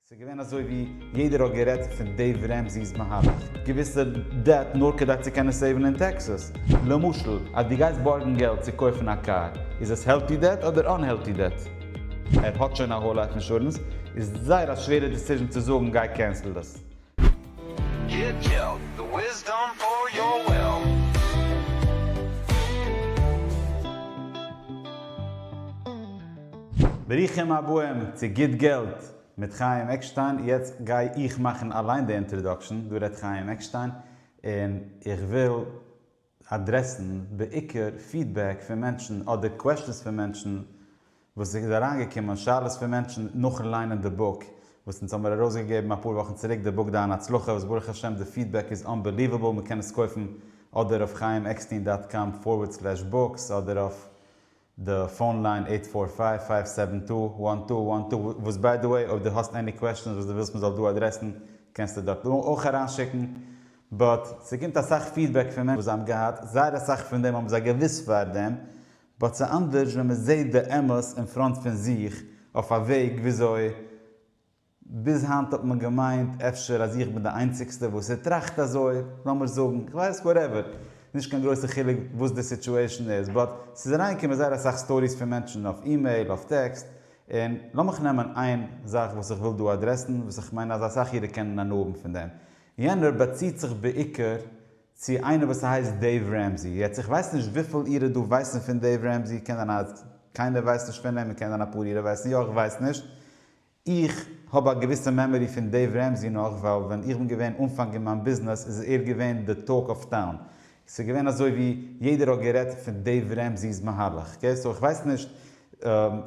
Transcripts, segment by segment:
ס'איז געווען אזוי ווי יעדער האט גערעדט פון דעיוו רעמזי'ס מהלך, געוויסע דעט נאר כדי צו קענען סעיווען אין טעקסעס. למשל אז דו גייסט בארגן געלט צו קויפן א קאר, איז עס העלטי דעט אדער אנהעלטי דעט? ער האט שוין א האול לייף אינשורענס, איז זייער א שווערע דיסיזשען צו זאגן גיי קענסל דאס. ברוכים הבאים צו גוט געלט מיט חיים עקשטיין, יעצט גיי איך מאכן אליין די אינטראדאקשען, דא רעדט חיים עקשטיין, און איך וויל. אדרעסן בעיקר פידבעק פון מענטשן אדער קוועשאנס פון מענטשן וואס איז אריינגעקומען, שאלות פון מענטשן נאכן ליינען די בוק וואס אונז האמיר ארויסגעגעבן אפאר וואכן צוריק די בוק דיין הצלחה וואס ברוך השם די פידבעק איז אנבעליוועבל מען קען עס קויפן אדער אויף חיים עקסטין דאט קאם פארווערד סלעש בוקס אדער אויף די פאון ליין עיט פאר פייוו פייוו סעווען טו וואן טו וואן טו וואס ביי די וועי אויב די האסט עני קוועשענס וואס די ווילסט מען זאל דא אדרעסן קענסטו דארט אויך אריין שיקן באט ס'קומט אסאך פידבעק פון מענטשן וואס זיי האבן געהאט זייער אסאך פון דעם האבן זיי געוויסט פאר דעם באט ס'אנדערש ווען מ'זעהט די אמת אין פראנט פון זיך אויף א וועג וויאזוי ביז היינט האט מען געמיינט אפשר אז איך בין די איינציגסטע וואס ער טראכט אזוי, לאמיר זאגן, איך ווייס, וואטעווער, נישט קיין גרויסע חילוק וואס די סיטואשען איז, באט ס'איז אריינגעקומען זייער אסאך סטאריס פון מענטשן אויף אימעיל, אויף טעקסט, און לאמיך נעמען איין זאך וואס איך וויל דא אדרעסן, וואס איך מיין אז אסאך אירע קענען הנאה האבן פון דעם. יענער באציט זיך בעיקר צו איינער וואס הייסט דעיוו רעמזי, יעצט איך ווייס נישט וויפיל אירע דא ווייסן פון דעיוו רעמזי, קען זיין אז קיינער ווייסט נישט פון אים, און קען זיין אפאר אירע ווייסן יא, איך ווייס נישט, איך האב א געוויסע מעמארי פון דעיוו רעמזי נאך ווייל ווען איך בין געווען אנפאנג אין מיין ביזנעס איז ער געווען די טאלק אוו טאון סאיז געווען אזוי ווי יעדער האט גערעדט פון דעיוו רעמזי'ס מהלך קעי סאו איך ווייס נישט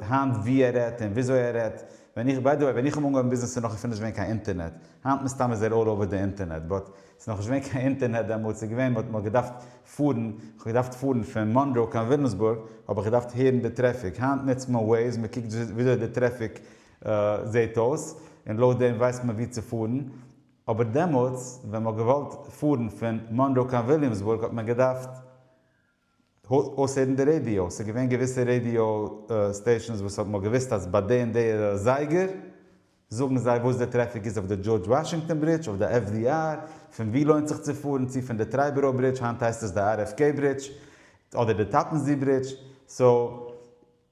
היינט ווי ער רעדט און וויאזוי ער רעדט ווען איך ביי די וועי ווען איך האב אנגעהויבן ביזנעס איז נאך אפילו נישט געווען קיין אינטערנעט היינט מסתם איז ער אלל אווער די אינטערנעט באט ס'איז נאך נישט געווען קיין אינטערנעט דעמאלט, ס'איז געווען מ'האט נאר געדארפט פארן, כ'האב געדארפט פארן פון מאנרא קיין וויליאמסבורג האב איך געדארפט הערן די טרעפיק, היינט נוצט מען וועיז, מען קוקט וויאזוי די טרעפיק זעהט אויס און לויט דעם ווייסט מען וואו צו פארן, אבער דעמאלטס ווען מ'האט געוואלט פארן פון מאנרא קיין וויליאמסבורג האט מען געדארפט. אויסהערן די רעדיאו, ס'איז געווען געוויסע רעדיאו סטעישאנס וואס האט מ'האט געוויסט אז ביי די און די אזייגער זאגן זיי וואס די טרעפיק איז אויף די דזשארדזש וואשינגטאן ברידזש, אויף די FDR, פון וואו לוינט זיך צו פארן, צו פון די טרייבארא ברידזש, היינט הייסט עס די RFK ברידזש, אדער די טאפען זי ברידזש, סאו.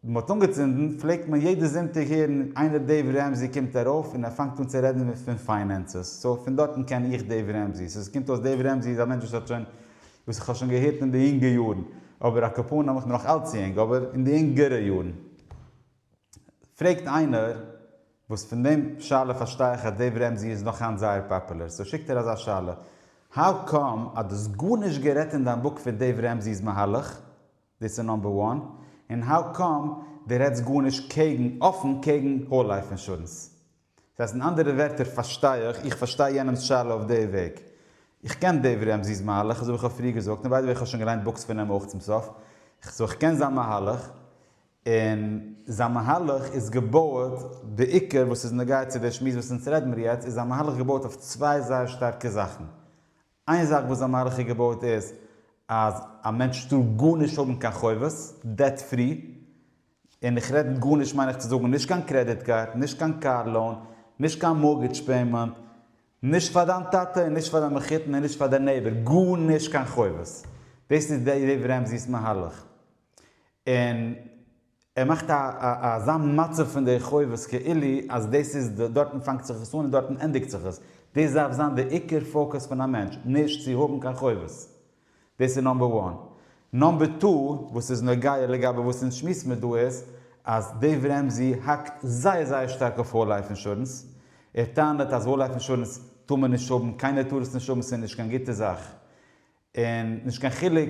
ווען מען האט אנגעצינדן פלעגט מען יעדע זונטאג הערן איינער דעיוו רעמזי קומט ארויף און ער פאנגט אן צו רעדן מיט פון פיינענסעס סאו פון דארטן קען איך דעיוו רעמזי סאו עס קומט אויס דעיוו רעמזי איז א מענטש וואס האט שוין וואס איך האב שוין געהערט אין די אינגע יארן אבער על קאפאן האב איך מיר נאך אלץ צו אינג אבער אין די אינגערע יארן פרעגט איינער וואס פון דעם שאלה פארשטיי איך אז דעיוו רעמזי איז נאך היינט זייער פאפולער סאו שיקט ער אזא שאלה האו קאם אז דו האסט גארנישט גערעדט אין דיין בוק פון דעיוו רעמזי'ס מהלך? דאס איז נאמבער וואן, און האו קאם די רעדסט גארנישט קעגן, אפען קעגן האול לייף אינשורענס? דאס הייסט אין אנדערע ווערטער פארשטיי איך, איך פארשטיי יענעמס שאלה אויף די וועג. איך קען דעיוו רעמזי'ס מהלך, אזויווי כ'האב פריער געזאגט, און ביי די וועי כ'האב שוין געליינט בוקס פון אים אויך צום סוף, סאו איך קען זיין מהלך, און זיין מהלך איז געבויעט, די עיקר וואס איז נוגע צו די שמועס וואס אונז רעדן מיר יעצט, איז זיין מהלך געבויעט אויף צוויי זייער שטארקע זאכן, איין זאך וואס די מערכה איז געבויט איז אז א מענטש טאר גארנישט האבן קיין חובות, דעט פרי, און איך רעד מיט גארנישט מיין איך צו זאגן נישט קיין קרעדיט קארד, נישט קיין קאר לאון, נישט קיין מארגעדזש פעימענט, נישט פאר דיין טאטע און נישט פאר דיין מחותן און נישט פאר דיין נעיבער, גארנישט קיין חובות. דאס איז דעיוו רעמזי'ס מהלך. און. ער מאכט א אזא מצב פון די חובות כאילו אז דאס איז די דארטן פאנגט זיך עס אן און דארטן ענדיגט זיך עס, דאס דארף זיין די עיקר פאוקעס פון א מענטש, נישט צו האבן קיין חובות, דאס איז נאמבער וואן. נאמבער טו וואס איז נוגע לגבי וואס אונז שמועסן מיר דא איז אז דעיוו רעמזי האקט זייער זייער שטארק אויף האול לייף אינשורענס, ער טענה'ט אז האול לייף אינשורענס טאר מען נישט האבן, קיינער טאר עס נישט האבן, ס'איז נישט קיין גוטע זאך, און נישט קיין חילוק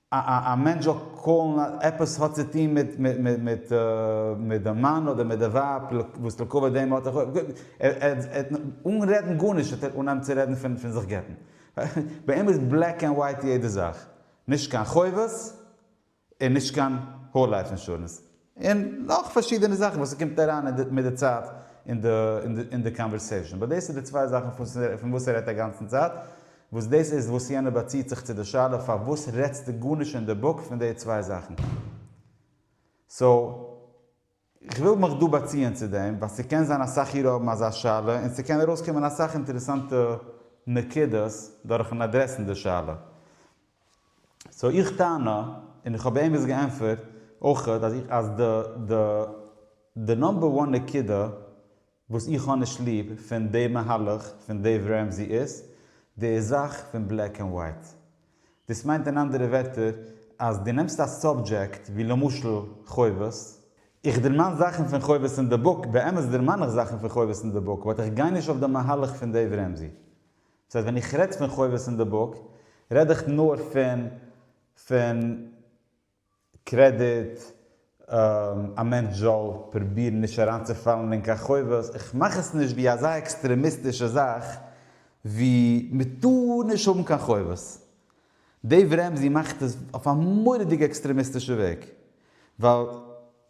א מענטש זאל קאלן עפעס האט צו טון מיט די מאן אדער מיט די ווייב וואס ליקוי דעה האט ער אן רעדן גארנישט האט ער אן אן צו רעדן פון זיך גט'ן ביי אים איז בלעק ענד ווייט יעדע זאך נישט קיין חובות און נישט קיין האול לייף אינשורענס. און נאך פארשידענע זאכן וואס ס'קומט אריין מיט די צייט אין די קאנווערסעישאן. באט דאס איז די צוויי זאכן פון וואס ער רעדט אגאנצן צייט, וואס דאס איז וואס יענער באציעט זיך צו די שאלה פארוואס רעדסטו גארנישט אין די בוק פון די צוויי זאכן. סאו, כ'וויל מיך דא באציען צו דעם, ווייל ס'קען זיין אסאך אירע האבן אזא שאלה, און ס'קען ארויסקומען אסאך אינטערעסאנטע נקודות דורכן אדרעסן די שאלה. סאו איך טענה, און איך האב ערגעץ געענטפערט אויך, אז איך אז די די די נאמבער וואן נקודה וואס איך האב נישט ליב פון די מהלך פון דעיוו רעמזי איז די זאך פון בלעק ענד ווייט. דאס מיינט אין אנדערע ווערטער אז דו נעמסט א סאבדזשעקט ווי למשל חובות, איך דערמאן זאכן פון חובות אין די בוק, באמת דערמאן איך זאכן פון חובות אין די בוק, באט איך גיי נישט אויף די מהלך פון דעיוו רעמזי. דאס הייסט ווען איך רעד פון חובות אין די בוק רעד איך נאר פון פון קרעדיט, א מענטש זאל פרובירן נישט אריינצופאלן אין קיין חובות, איך מאך עס נישט ווי אזא עקסטרעמיסטישע זאך ווי מ'טאר נישט האבן קיין חובות. דעיוו רעמזי מאכט עס אויף א מורא'דיגע עקסטרעמיסטישע וועג. ווייל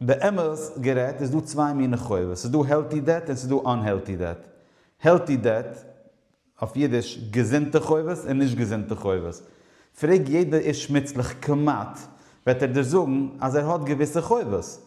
באמת גערעדט איז דא צוויי מיני חובות. ס'איז דא העלטי דעט און ס'איז דא אנהעלטי דעט. העלטי דעט, אויף אידיש, געזונטע חובות און נישט געזונטע חובות. פרעג יעדע איש מוצלח כמעט, וועט ער דיר זאגן אז ער האט געוויסע חובות.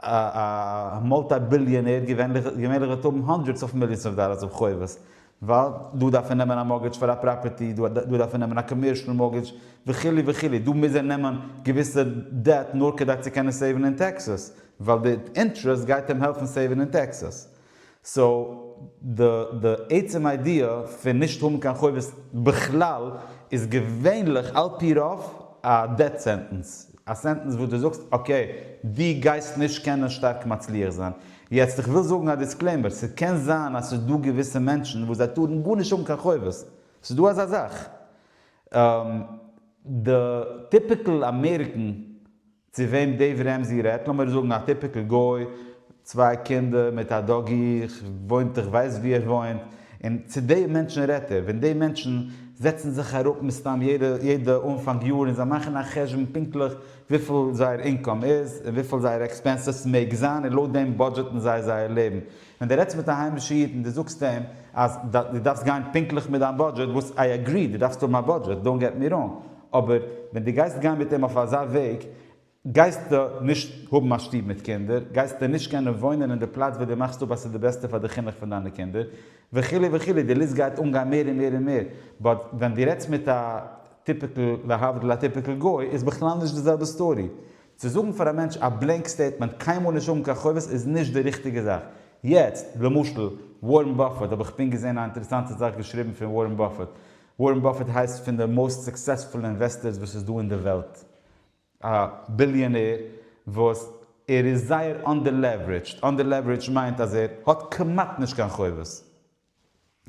א מולטי ביליאנער געווענליך געווענליך וועט האבן הונדרעדס אויף מיליאנס אויף דאלארס אויף חובות, ווייל דא דארף ער נעמען א מארגעדזש פאר א פראפערטי, דא דא דארף ער נעמען א קאמערשעל מארגעדזש, וכו' וכו', דא מוז ער נעמען געוויסע דעט נאר כדי צו קענען סעיווען אין טעקסעס, ווייל די אינטערעסט גייט אים העלפן סעיווען אין טעקסעס. סאו די די עצם איידיע פון נישט האבן קיין חובות בכלל איז געווענליך על פי רוב א דעט סענטענס, א סענטענס וואס דו זאגסט אקעי דו גייסט נישט קענען שטארק מצליח זיין. יעצט איך וויל זאגן א דיסקלעימער, ס'קען זיין אז ס'איז דא געוויסע מענטשן וואס זיי טארן גארנישט האבן קיין חובות, ס'איז דא אזא זאך. די טיפיקעל אמעריקען צו וועם דעיוו רעמזי רעדט, לאמיר זאגן א טיפיקל גוי, צוויי קינדער מיט א דאגי, איך וואוינט איך ווייס ווי ער וואוינט, און צו די מענטשן רעדט ער, ווען די מענטשן זעצן זיך אראפ מסתם יעדע יעדע אנפאנג יאר און זיי מאכן א חשבון פונקטליך וויפיל זייער אינקאם איז און וויפיל זייערע עקספענסעס מעג זיין און לויט דעם בודזשעטן זיי זייער לעבן, ווען דו רעדסט מיט א היימישע איד און דו זאגסט אים אז דו דארפסט גיין פונקטליך מיט דיין בודזשעט, וואס איי אגרי, דו דארפסט האבן א בודזשעט, דאונט געט מי ראנג, אבער ווען דו גייסט גיין מיט אים אויף אזא וועג, גייסטו נישט האבן א שטוב מיט קינדער, גייסטו נישט קענען וואוינען אין די פלאץ וואו דו מאכסט אפ אז ס'איז די בעסטע פאר די חינוך פון דיינע קינדער, וכו' וכו', די ליסט גייט אנגיין מער און מער און מער, באט ווען דו רעדסט מיט א טיפיקל, להבדיל א טיפיקל גוי, איז בכלל נישט די זעלבע סטארי, צו זאגן פאר א מענטש א בלענק סטעיטמענט קיינמאל נישט האבן קיין חובות איז נישט די ריכטיגע זאך. יעצט, למשל, ווארען באפעט, האב איך פונקט געזען א אינטערעסאנטע זאך געשריבן פון ווארען באפעט. ווארען באפעט הייסט פון די מאוסט סוקסעספול אינוועסטערס וואס איז דא אין די וועלט. א ביליאנער וואס ער איז זייער אנדערלעווערידזשד. אנדערלעווערידזשד מיינט אז ער האט כמעט נישט קיין חובות.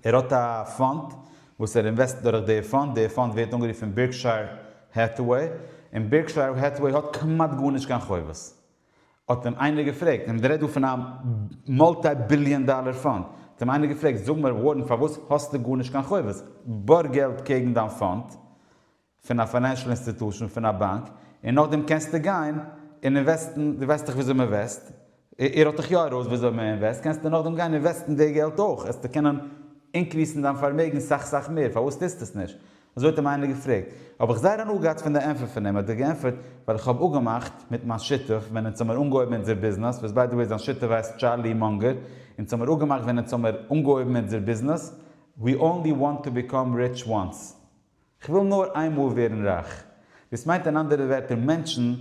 ער האט א פאנד וואס ער אינוועסט דורך די פאנד, די פאנד ווערט אנגערופן בירקשייער העטהוועי, און בירקשייער העטהוועי האט כמעט גארנישט קיין חובות. האט אים איינער געפרעגט, און מ'רעדט דא פון א מולטי ביליאן דאלער פאנד, האט אים איינער געפרעגט, זאג מיר ווארען פארוואס האסטו גארנישט קיין חובות? בארג געלט קעגן דיין פאנד, פון א פיינענשל אינסטיטושן פון א באנק און נאכדעם קענסטו גיין און אינוועסטן דו ווייסט דאך וויאזוי מען וועסט איר האט דאך יא ארויס וויאזוי מען אינוועסט קענסטו נאכדעם גיין אינוועסטן די געלט אויך העסטו קענען אינקריסן דיין פארמעגן סאך סאך מער פארוואס טוסטו עס נישט אזוי האט אים איינער געפרעגט האב איך זייער הנאה געהאט פון די ענפער פון אים האט ער געענפערט ווייל איך האב אפגעמאכט מיט מיין שותף ווען אונז האמיר אנגעהויבן אונזער ביזנעס וואס ביי די וועי זיין שותף הייסט טשארלי מונגער אונז האמיר אפגעמאכט ווען אונז האמיר אנגעהויבן אונזער ביזנעס we only want to become rich once. כ'וויל נאר איינמאל ווערן רייך. דאס מיינט אין אנדערע ווערטער מענטשן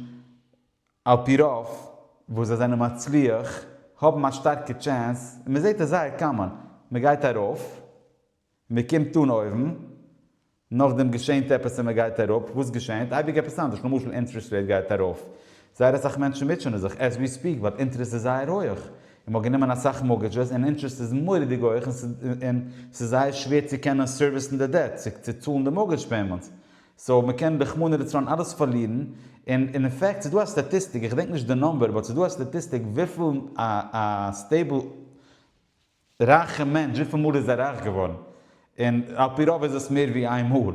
על פי רוב וואס זיי זענען מצליח האבן א שטארקע טשענס און מען זעט עס זייער קאמאן מען גייט ארויף מען קומט אן אויבן נאכדעם געשענט עפעס און מען גייט אראפ וואס געשענט אייביג עפעס אנדערש למשל אינטרעסט רעיט גייט ארויף זייער אסאך מענטשן מוטשענען זיך עז ווי ספיעק ווייל אינטערעסט איז זייער הויעך, און מ'האט גענומען אסאך מארגעדזשעס און אינטערעסט איז מורא'דיג הויעך און ס'איז זייער שווער צו קענען סערוויסן די דעט, צו צאלן די מארגעדזש פעימענטס, סאו מ'קען רחמנא לצלן אלעס פארלירן, און אין פעקט ס'איז דא א סטאטיסטיק, איך געדענק נישט די נומבער, באט ס'איז דא א סטאטיסטיק וויפיל א סטעיבל. רייכע מענטש וויפיל מאל איז ער רייך געווארן? און על פי רוב איז עס מער ווי איין מאל,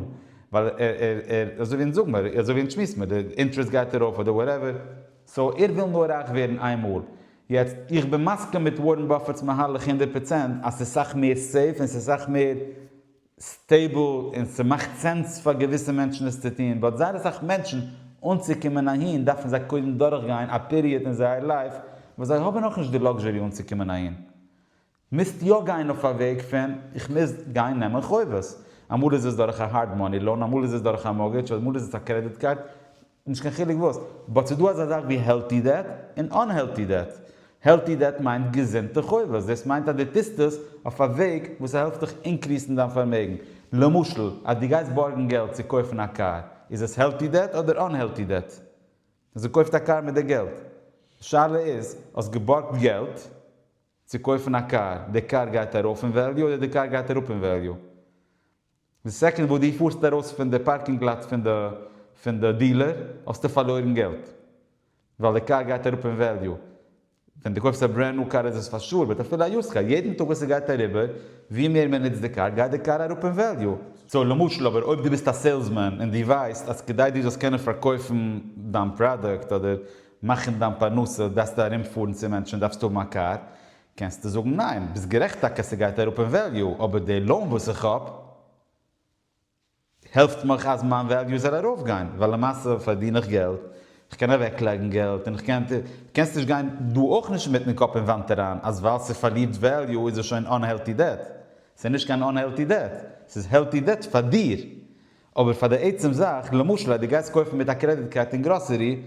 ווייל ער ער אזוי ווי זאג מיר אזוי ווי אונז שמועסן מיר די אינטרעסט גייט ארויף אדער וואטעווער, סאו ער וויל נאר רייך ווערן איין מאל, יעצט איך בין מסכים מיט ווארען באפעט'ס מהלך הונדערט פראצענט אז ס'איז סאך מער סעיף און ס'איז סאך מער סטעיבל און ס'מאכט סענס פאר געוויסע מענטשן עס צו טון באט זייער אסאך מענטשן אנצוקומען אהין דארפן זיי קודם דורכגיין א פיריעד אין זייער לייף וואס זיי האבן נאכנישט די לאקזשערי אנצוקומען אהין מוזט יא גיין אויף א וועג פון איך מוז גיין נעמען חובות אמאל איז עס דורך א הארד מאני לאון אמאל איז עס דורך א מארגעדזש אמאל איז עס א קרעדיט קארד נישט קיין חילוק וואס, באט ס'דא אזא זאך ווי העלטי דעט און אנהעלטי דעט, העלטי דעט מיינט געזונטע חובות, דאס מיינט אז דו טוסט עס אויף א וועג וואס ס'העלפט דיך אינקריסן דיין פארמעגן, למשל אז דו גייסט בארגן געלט צו קויפן א קאר, איז עס העלטי דעט אדער אנהעלטי דעט? אז דו קויפט א קאר מיט די געלט, די שאלה איז, האסט געבארגט געלט צו קויפן א קאר, די קאר גייט ארויף אין וועליו אדער די קאר גייט אראפ אין וועליו? די סעקאנד וואס דו פארסט ארויס פון די פארקינג לאט פון די פון די דילער האסטו פארלוירן געלט ווייל די קאר גייט אראפ אין וועליו, ווען דו קויפסט א ברענד ניו קאר איז עס פאר שור באט אפילו א יוזד קאר יעדן טאג וואס עס גייט אריבער ווי מער מען נוצט די קאר גייט די קאר אראפ אין וועליו. סאו למשל אבער אויב דו ביסט א סעילסמען און דו ווייסט אז כדי דו זאלסט קענען פארקויפן דיין פראדוקט אדער מאכן דיין פרנסה דארפסטו ארום פארן צו מענטשן דארפסטו האבן א קאר קענסטו זאגן ניין, ביסט גערעכט טאקע ס'גייט אראפ אין וועליו, אבער די לאון וואס איך האב העלפט מיך אז מיין וועליו זאל ארויפגיין, ווייל למעשה פארדין איך געלט, איך קען אוועקלייגן געלט, און איך קען, קענסט נישט גיין דא אויך נישט מיטן קאפ אין וואנט אריין אז ווייל ס'פארלירט וועליו איז עס שוין אן העלטי דעט, ס'איז נישט קיין אן העלטי דעט, ס'איז העלטי דעט פאר דיר, אבער פאר די עצם זאך, למשל אז דו גייסט קויפן מיט א קרעדיט קארד אין גראסערי,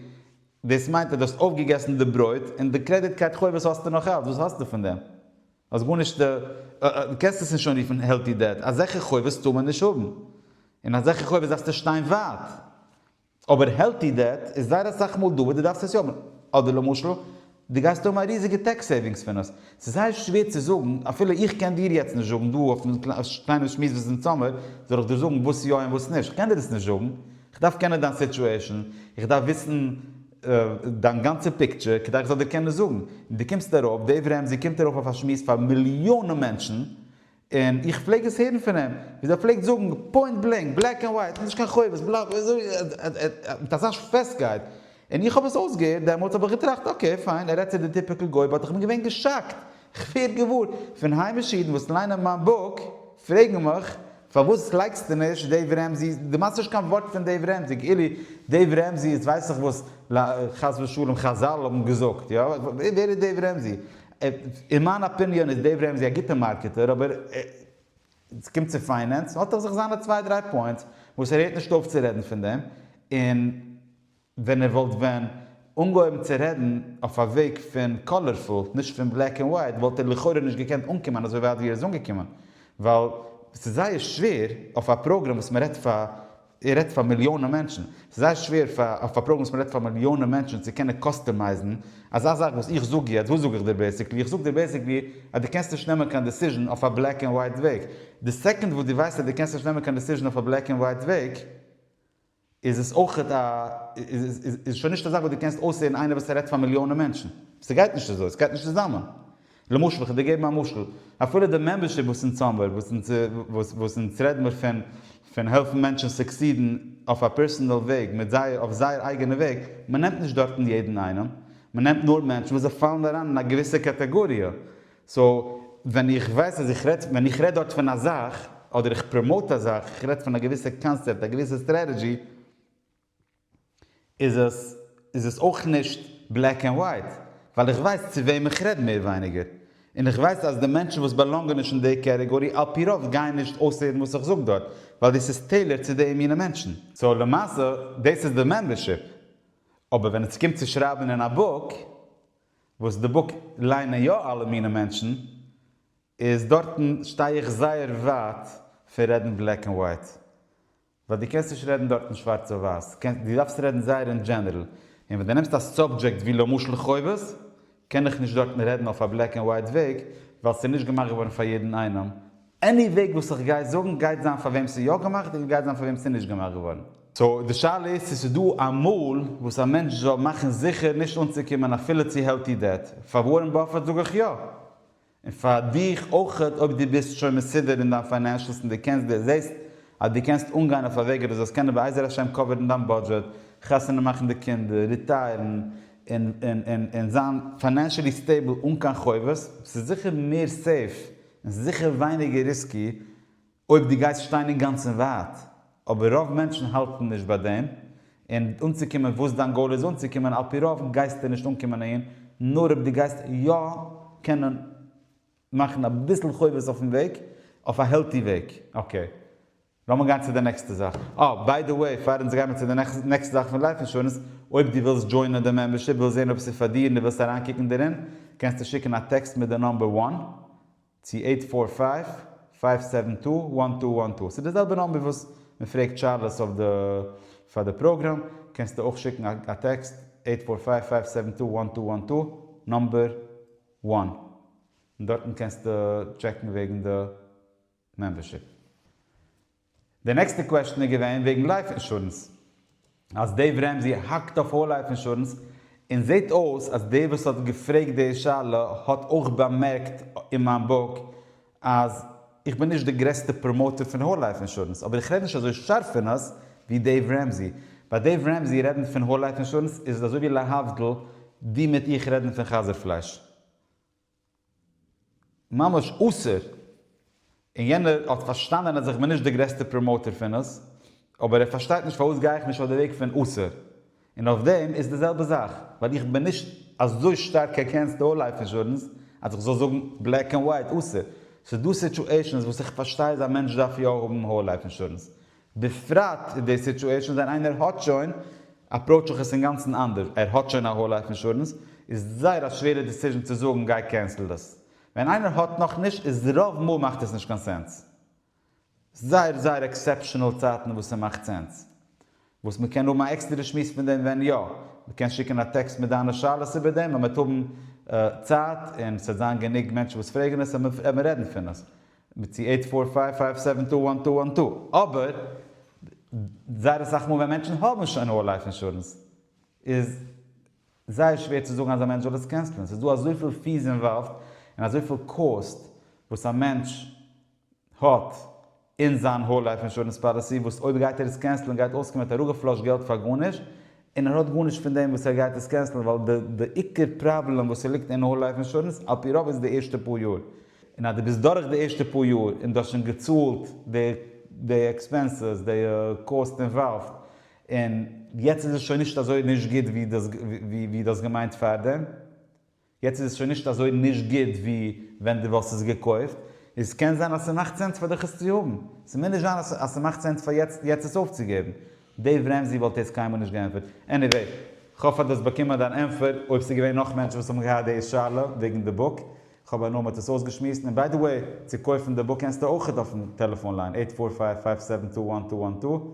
דאס מיינט אז דו האסט אויפגעגעסן די ברויט און די קרעדיט קארד חובות האסטו נאך אלץ, וואס האסטו פון דעם? האסט גארנישט, דו קענסט עס נישט אנרופן העלטי דעט, אזעלכע חובות טאר מען נישט האבן, און אזעלכע חובות דארפסטו שטיין ווייט, אבער העלטי דעט איז זייער אסאך מאל דא וואס דו דארפסט עס יא האבן, אדער למשל דו גייסט האבן א ריזיגע טעקס סעיווינגס פון עס, ס'איז זייער שווער צו זאגן, אפילו איך קען דיר יעצט נישט זאגן דא אויפן קליינעם שמועס וואס איז אין זומער, זאל איך דיר זאגן וואס יא און וואס נישט, איך קען דיר עס נישט זאגן, איך דארף קענען דיין סיטועשאן, איך דארף וויסן דיין גאנצע פיקטשער כדי איך זאל דיר קענען זאגן. און דו קומסט ארויף, דעיוו רעמזי קומט ארויף אויף א שמועס פאר מיליאנען מענטשן, און איך פלעג עס הערן פון אים ווי אזוי ער פלעגט זאגן פוינט בלענק, בלעק ענד ווייט, נישט קיין חובות, בלא בלא, מיט אזא פעסטקייט, און איך האב עס אויסגעהערט דעמאלטס האב איך געטראכט אקעי פיין, ער רעדט צו די טיפיקל גוי, באט איך בין געווען געשאקט, איך ווער געוואר פון היימישע אידן וואס ליינען מיין בוק פרעגן מיך, פארוואס לייגסטו נישט דעיוו רעמזי? דו מיינסט נישט קיין ווארט פון דעיוו רעמזי, כאילו דעיוו רעמזי איז ווייס איך וואס חס ושלום חזל האבן געזאגט, יא? ווער איז דעיוו רעמזי? אין מיין אפיניאן איז דעיוו רעמזי א גוטע מארקעטער אבער ווען ס'קומט צו פיינענס האט ער זיך זיינע צוויי דריי פוינטס וואס ער הערט נישט אויף צו רעדן פון דעם און ווען ער וואלט ווען אנגעהויבן צו רעדן אויף א וועג פון קאלערפול, נישט פון בלעק ענד ווייט, וואלט ער לכאורה נישט געקענט אנקומען אזוי ווייט ווי ער איז אנגעקומען, ווייל ס'איז זייער שווער אויף א פראגראם וואס מען רעדט פאר, ער רעדט פאר מיליאנען מענטשן, ס'איז זייער שווער פאר אויף א פראגראם וואס מען רעדט פאר מיליאנען מענטשן צו קענען קאסטומייזן אזא זאך וואס איך זאג יעצט, וואס זאג איך דיר בעיסיקלי? איך זאג דיר בעיסיקלי אז דו קענסט נישט נעמען קיין דעסיזשן אויף א בלעק ענד ווייט וועג, די סעקאנד וואס דו ווייסט אז דו קענסט נישט נעמען קיין דעסיזשן אויף א בלעק ענד ווייט וועג, איז עס אויך א, איז שוין נישט א זאך וואס דו קענסט אויסהערן איינער וואס ער רעדט פאר מיליאנען מענטשן. ס'גייט נישט אזוי, ס'גייט נישט צוזאמען. למשל, איך וועל דיר געבן א משל, אפילו די מעמבערשיפ וואס אונז האבן, וואס אונז רעדן מיר פון, פון העלפן מענטשן סוקסידן אויף א פערסאנעל וועג, מיט זייער, אויף זייער אייגענע וועג, מ'נעמט נישט דארטן יעדן איינעם, מ'נעמט נאר מענטשן וואס זיי פאלן אריין אין א געוויסע קאטאגאריע, סאו ווען איך ווייס אז איך רעד, ווען איך רעד דארט פון א זאך, אדער איך פראמאוט א זאך, איך רעד פון א געוויסע קאנסעפט, א געוויסע סטרעטעדזשי, איז עס, איז עס אויך נישט בלעק ענד ווייט, ווייל איך ווייס צו וועם איך רעד מער ווייניגער, און איך ווייס אז די מענטשן וואס באלאנגען נישט אין די קעטעגארי על פי רוב גייען נישט אויסהערן וואס איך זאג דארט, ווייל דאס איז טעילארד צו די מינע מענטשן. סאו למעשה דאס איז די מעמבערשיפ. אבער ווען עס קומט צו שרייבן אין א בוק, וואס די בוק ליינען יא אלע מיני מענטשן, איז דארטן שטיי איך זייער ווייט פון רעדן בלעק ענד ווייט, ווייל די קענסט נישט רעדן דארטן שווארץ אויף ווייס, די דארפסט רעדן זייער אין דזשענערל, און ווען די נעמסט א סאבדזשעקט ווי למשל חובות, קען איך נישט דארטן רעדן אויף א בלעק ענד ווייט וועג, ווייל ס'איז נישט געמאכט געווארן פאר יעדן איינעם, עני וועג וואס איך גיי זאגן גייט זיין פאר וועם ס'איז יא געמאכט געווארן גייט זיין פאר וועם ס'איז נישט געמאכט געווארן. סאו די שאלה איז צו ס'דא א מאל וואס א מענטש זאל מאכן זיכער נישט אנצוקומען אפילו צו העלטי דעט. פאר ווארען באפעט זאג איך יא. און פאר דיך אויך אויב דו ביסט שוין מסודר אין דיין פיינענשלס און דו קענסט דו זעסט אז דו קענסט אנגיין אויף א וועג אז דו זאלסט קענען בעזר השם קאווערן דיין בודזשעט, חתונה מאכן די קינדער, ריטייערן, און זיין פיינענשעלי סטעיבל אן קיין חובות. ס'איז זיכער מער סעיף און ס'איז זיכער ווייניגער ריסקי אויב דו גייסט שטיין אינגאנצן ווייט, אבער רוב מענטשן האלטן נישט ביי דעם, און אנצוקומען וואס דיין גאול איז אנצוקומען, על פי רוב גייסטו נישט אנקומען אהין, נאר אויב דו גייסט יא קענען מאכן אביסל חובות אויפן וועג, אויף א העלטי וועג, אקעי. לאמיר גיין צו די נעקסטע זאך. אה, ביי די וועי, פאר אונז גייען מיט צו די נעקסטע זאך פון לייף אינשורענס, אויב דו ווילסט דזשוינען די מעמבערשיפ, ווילסט זען אויב ס'איז פאר דיר און דו ווילסט אריינקוקן דערין, קענסטו שיקן א טעקסט מיט די נומבער וואן צו אייט פאר פייוו, פייוו סעווען טו, וואן טו וואן טו. ס'איז די זעלבע נומבער וואס מען פרעגט שאלות אויף די פאר די פראגראם, קענסטו אויך שיקן א טעקסט, אייט פאר פייוו, פייוו סעווען טו, וואן טו וואן טו, נומבער וואן. און דארטן קענסטו טשעקן וועגן די. מעמבערשיפ. די נעקסטע קוועשטען איז געווען וועגן לייף אינשורענס אז דעיוו רעמזי האקט אויף האול לייף אינשורענס און זעהט אויס אז דער וואס האט געפרעגט די שאלה האט אויך באמערקט אין מיין בוק אז איך בין נישט די גרעסטע פראמאוטער פון האול לייף אינשורענס אבער איך רעד נישט אזוי שארף פון עס ווי דעיוו רעמזי ביי דעיוו רעמזי רעדן פון האול לייף אינשורענס איז אזוי ווי להבדיל דו מיט איך רעדן פון חזיר פלייש. ממש אסור, און יענער האט פארשטאנען אז איך בין נישט די גרעסטע פראמאוטער פון עס, אבער ער פארשטייט נישט פארוואס גיי איך נישט אויף די וועג פון אסור, און אויף דעם איז די זעלבע זאך, ווייל איך בין נישט אזוי שטארק עגענסט האול לייף אינשורענס אז איך זאל זאגן בלעק ענד ווייט אסור, ס'איז דא סיטואשענס וואס איך פארשטיי אז א מענטש דארף יא האבן האול לייף אינשורענס, בפרט אין די סיטועשאן ווען איינער האט שוין, אפראוטש איך עס אינגאנצן אנדערש, ער האט שוין א האול לייף אינשורענס, איז זייער א שווערע דיסיזשן צו זאגן גיי קענסל דאס. ווען איינער האט נאך נישט איז רוב מאל מאכט עס נישט קיין סענס. זייער זייער עקסעפשענעל צייטן וואס ס'מאכט סענס. וואס מ'קען האבן א עקסטערע שמועס פון דעם ווען יא. מ'קען שיקן א טעקסט מיט דיינע שאלות איבער דעם ווען מ'וועט האבן צייט און ס'וועט זיין גענוג מענטשן וואס פרעגן עס וועט מען רעדן פון עס. מיט צו עיט פאר פייוו פייוו סעווען טו וואן טו וואן טו, אבער זייער אסאך מאל ווען מענטשן האבן שוין האול לייף אינשורענס איז זייער שווער צו זאגן אז א מענטש זאל עס קענסלען, ס'איז דא אזויפיל פיס אינוואלווד און אזויפיל קאסט וואס א מענטש האט אין זיין האול לייף אינשורענס פאליסי וואס אויב גייט ער עס קענסלען גייט אויסקומען מיט אראפגעפלאשט געלט פאר גארנישט, און ער האט גארנישט פון דעם וואס ער גייט עס קענסלען ווייל די די עיקר פראבלעם וואס ער ליגט אין האול לייף אינשורענס על פי רוב איז די ערשטע פאר יאר און אז די ביסט דורך די ערשטע פאר יאר און די האסט שוין געצאלט די די עקספענסעס די קאסט אינוואלווד און יעצט איז עס שוין נישט אזוי נישט גוט ווי די האסט געמיינט פארדעם. יעצט איז עס שוין נישט אזוי נישט גוט ווי ווען דו וואלסט עס געקויפט, און ס'קען זיין אז ס'מאכט סענס פאר דיך עס צו האבן. ס'מוז נישט זיין אז ס'מאכט סענס פאר יעצט יעצט עס אויפצוגעבן. דעיוו רעמזי וואלט דאס קיינמאל נישט געענטפערט. עניוועי, כ'האף אז דו האסט באקומען דיין ענטפער. אויב ס'איז געווען נאך מענטשן וואס האבן געהאט די שאלה וועגן די בוק, כ'האב הנאה מ'האט עס אויסגעשמועסט. און ביי די וועי, צו קויפן די בוק קענסטו אויכעט אויפן טעלעפאן ליין, עיט פאר פייוו פייוו סעווען טו וואן טו וואן טו.